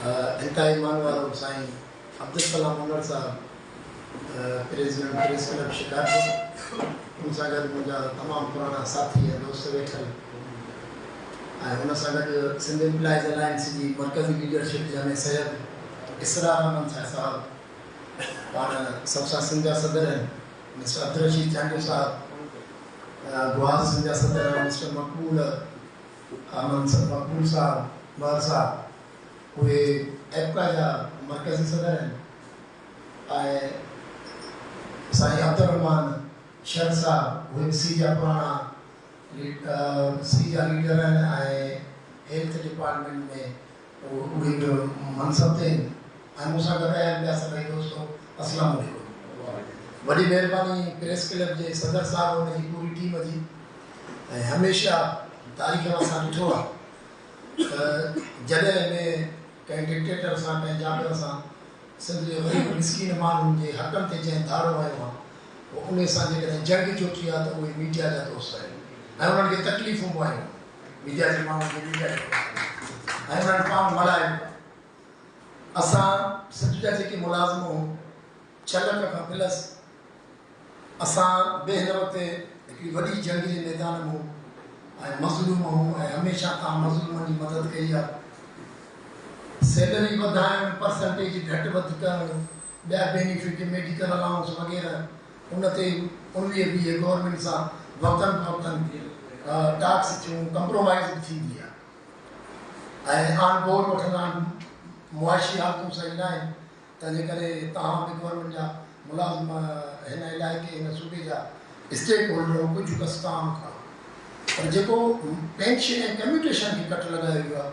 هتان ايمان وارو سائين عبدالسلام عمر صاحب پريزيڊنٽ پريس ڪلب شڪارپور ان سان گڏ منهنجا تمام پراڻا ساٿي ۽ دوست ويٺل ۽ ان سان گڏ سنڌ امپلائيز الائنس جي مرڪزي ليڊرشپ جنهن ۾ سيد اسرار احمد شاهه صاحب پاڻ سب سان سنڌ جا صدر آهن مسٽر عبدالرشيد چانڊيو صاحب گوار سنڌ جا صدر آهن مسٽر مقبول ها منصب مقبول صاحب، مهر صاحب، اهي ايپڪا جا مرڪزي صدر آهن ۽ سائين عبدالرحمان شر صاحب اهي به سي جا پراڻا سي جا ليڊر آهن ۽ هيلٿ ڊپارٽمينٽ ۾ اهي به منصب تي آهن ۽ مون سان گڏ آيا آهن ٻيا سڀئي دوستو اسلام عليڪم. وڏي مهرباني پريس ڪلب جي صدر صاحب ۽ ان جي پوري ٽيم جي ۽ هميشه تاريخ ۾ اسان ڏٺو آهي ته جڏهن به ڪنهن ڊڪٽيٽر سان ڪنهن جابر سان سنڌ جي غريب مسڪين ماڻهن جي حقن تي جنهن ڌاڙو هنيو آهي پوء انهي سان جيڪڏهن جنگ جو ٿي آهي ته اهي ميڊيا جا دوست آهن ۽ انهن کي تڪليفون به آيون آهن. ميڊيا جي ماڻهن کي ميڊيا جي ڪم ڪرڻ ڏيو ۽ انهن پاڻ ملائن اسان سنڌ جا جيڪي ملازم هون ڇهه لک کان پلس اسان به هن وقت هڪڙي وڏي جنگ جي ميدان ۾ هون ۽ مظلوم هون ۽ هميشه تان مظلومن جي مدد ڪئي آ سيلري وڌائڻ پرسنٽيج گهٽ وڌ ڪرڻ ٻيا بينيفٽ، ميڊيڪل الائونس وغيره، ان تي اڻويهه ويهه گورنمينٽ سان وقتن فوقتن ٽاڪس ٿيون، ڪمپرومائيز به ٿيندي آهي ۽ آن بورڊ وٺندا آهن، معاشي حالتون صحيح نه آهن، تنهن جي ڪري توهان به گورنمينٽ جا ملازم هن علائقي هن صوبي جا اسٽيڪ هولڊر ڪجهه ڪسٽان کڻو پر جيڪو پينشن ۽ ڪميوٽيشن کي ڪٽ لڳايو ويو آهي،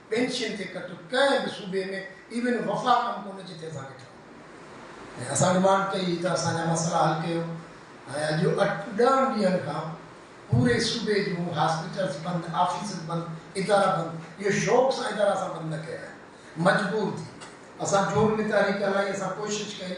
ٻين شين تي ڪٽ ڪنهن به صوبي ۾ ايون وفاق م ڪونهي جتي اسان کي ٺهندو ۽ اسان ڊمانڊ ڪئي ته اسان جا مسئلا حل ڪيو ۽ اڄ اٺ ڏهن ڏينهن کان پوري صوبي جون هاسپيٽلز بند آفيسز بند ادارا بند اهو شوق سان ادارا اسان بند نه ڪيا آهن مجبور ٿي اسان جو به تحريڪ هلائي اسان ڪوشش ڪئي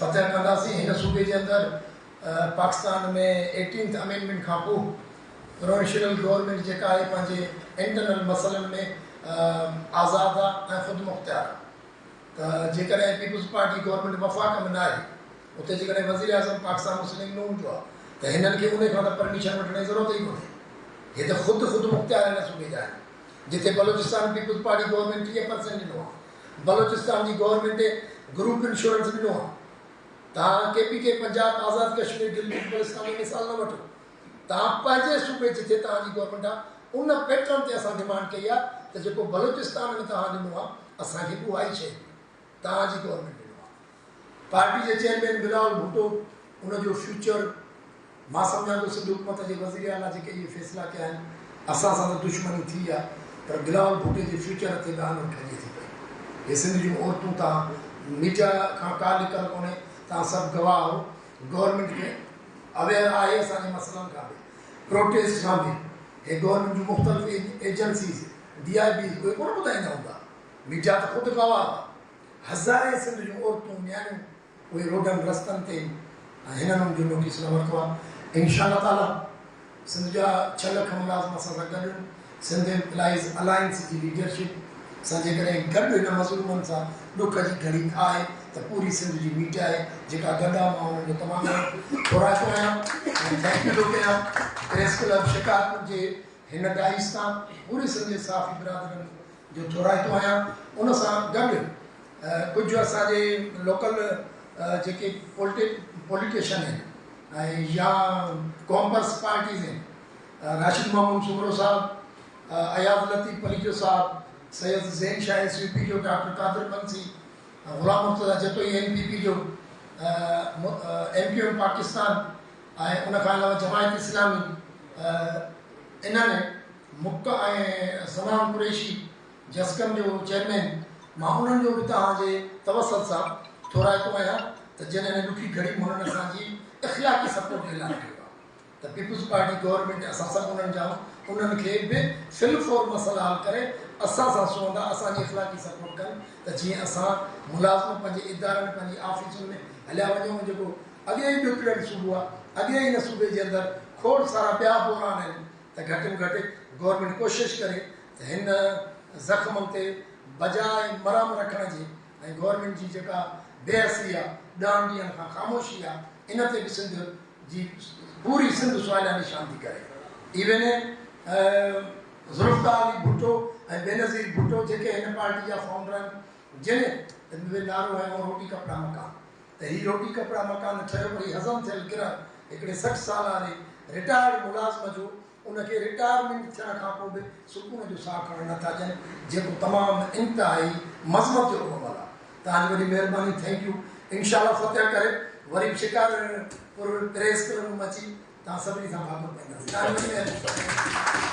فتح ڪنداسين هن صوبي جي اندر پاڪستان ۾ ايٽينٿ امينڊمينٽ کان پوء پروونشنل گورنمينٽ جيڪا آهي پنهنجي انٽرنل مسئلن ۾ آزاد آ ۽ خودمختيار آ ته جيڪڏهن پيپلز پارٽي گورنمينٽ وفاق ۾ ناهي اتي جيڪڏهن وزيراعظم پاڪستان مسلم نون جو آ ته هنن کي انهي کان ته پرميشن وٺڻ جي ضرورت ئي ڪونهي هي ته خود خودمختيار هن صوبي جا آهن جتي بلوچستان پيپلز پارٽي گورنمينٽ ٽيهه پرسينٽ ڏنو آ بلوچستان جي گورنمينٽ گروپ انشورنس ڏنو آ تهان ڪي پي ڪي پنجاب آزاد ڪشمير گلگت بلستان جو مثال نه وٺو تهان پنهنجي صوبي جتي تهان جي گورنمينٽ آ ان پيٽرن تي اسان ڊيمانڊ ڪئي آ ته جيڪو بلوچستان ۾ تهان ڏنو آ اسان کي به اها ئي شئي ڏيو تهان جي گورنمينٽ پارٽي جي چيئرمين بلاول ڀٽو ان جو فيوچر مان سمجهان ٿو سنڌ حڪومت جي وزير اعليٰ جيڪي اهي فيصلا ڪيا آهن اسان سان ته دشمني ٿي آهي پر بلاول ڀٽي جي فيوچر تي ڏانء ڏوڻ کڄي ٿي پئي هي سنڌ جون عورتون توهان ميڊيا کان ڪا لڪل ڪونهي توهان سڀ گواهه آهو گورنمينٽ کي اويئر آهي اسان جي مسئلن کان به پروٽيسٽ کان به هي گورنمينٽ جون مختلف ايجنسيز ڊي آء بيز اهي ڪونه ٻڌائيندا هوندا ميڊيا ته خود گواهه آهي. هزارين سنڌ جون عورتون نياڻيون اهي روڊن رستن تي هنن ان جو نوٽيس نه ورتو آهي انشاء الله تعاليٰ سنڌ جا ڇهه لک ملازم اسان سان گڏ هن سنڌ امپلائيز الائنس جي ليڊرشپ سان جيڪڏهن گڏ هن مظلومن سان ڏک جي گهڙي آهي ته پوري سنڌ جي ميٽ آهي جيڪا گڏ آهي مان انهن جو تمام گهڻو ٿورائتو آهيان ۽ ٿينڪ يو ٿو ڪريان پريس ڪلب شڪارپور جي هن ڊائس تان پوري سنڌ جي صحافي برادرن جو ٿورائتو آهيان ان سان گڏ ڪجهه اسان جي لوڪل جيڪي پوليٽيشن آهن ۽ يا ڪامرس پارٽيز آهن راشد محمود سومرو صاحب اياز لطيف پليجو صاحب Syed Zain Shah S U P جو doctor Qadir Bansi Ghulam Murtaza Jatoi M P P جو ايم کيو ايم پاڪستان ۽ ان کان علاوه جماعت اسلامي انهن مڪ ۽ سلام قريشي جسقم جو چيئرمين مان انهن جو به توهان جي توسل سان ٿورائتو آهيان ته جن هن ڏکي گهڙي م هنن اسان جي اخلاقي سپورٽ جو اعلان ڪيو آهي ته پيپلز پارٽي گورنمينٽ اسان سڀ انهن جا انهن کي به في الفور مسئلا حل ڪري اسان سان سهندا اسان جي اخلاقي سپورٽ ڪن ته جيئن اسان ملازم پنهنجي ادارن پنهنجي آفيسن ۾ هليا وڃون جيڪو اڳي ئي ڏکڙيل صوبو آهي اڳي ئي هن صوبي جي اندر کوڙ سارا ٻيا بحران آهن ته گهٽ ۾ گهٽ گورنمينٽ ڪوشش ڪري ته هن زخمن تي بجاء مرهم رکڻ جي ۽ گورنمينٽ جي جيڪا بي حسي آ ڏهن ڏينهن کان خاموشي آ ان تي به سنڌ جي پوري سنڌ سواليا نشان ٿي ڪري ايوين ذوالفقار علي ڀٽو ۽ بينظير ڀٽو جيڪي هن پارٽي جا فائونڊر آهن جن نعرو هنيو روٽي ڪپڙا مڪان ته هي روٽي ڪپڙا مڪان ٺهيو پر هي هضم ٿيل ڪرڻ هڪڙي سٺ سالاري رٽائرڊ ملازم جو ان کي رٽائرمينٽ ٿيڻ کان پوء به سڪون جو ساهه کڻڻ نه ٿا ڏين جيڪو تمام انتهائي مذمت جوڳو عمل آهي توهان جي وڏي مهرباني ٿينڪ يو انشاء الله فتح ڪري وري به شڪارپور پريس ڪلب ۾ اچي توهان سڀني سان ڀاڪر پائينداسين توهان جي وڏي مهرباني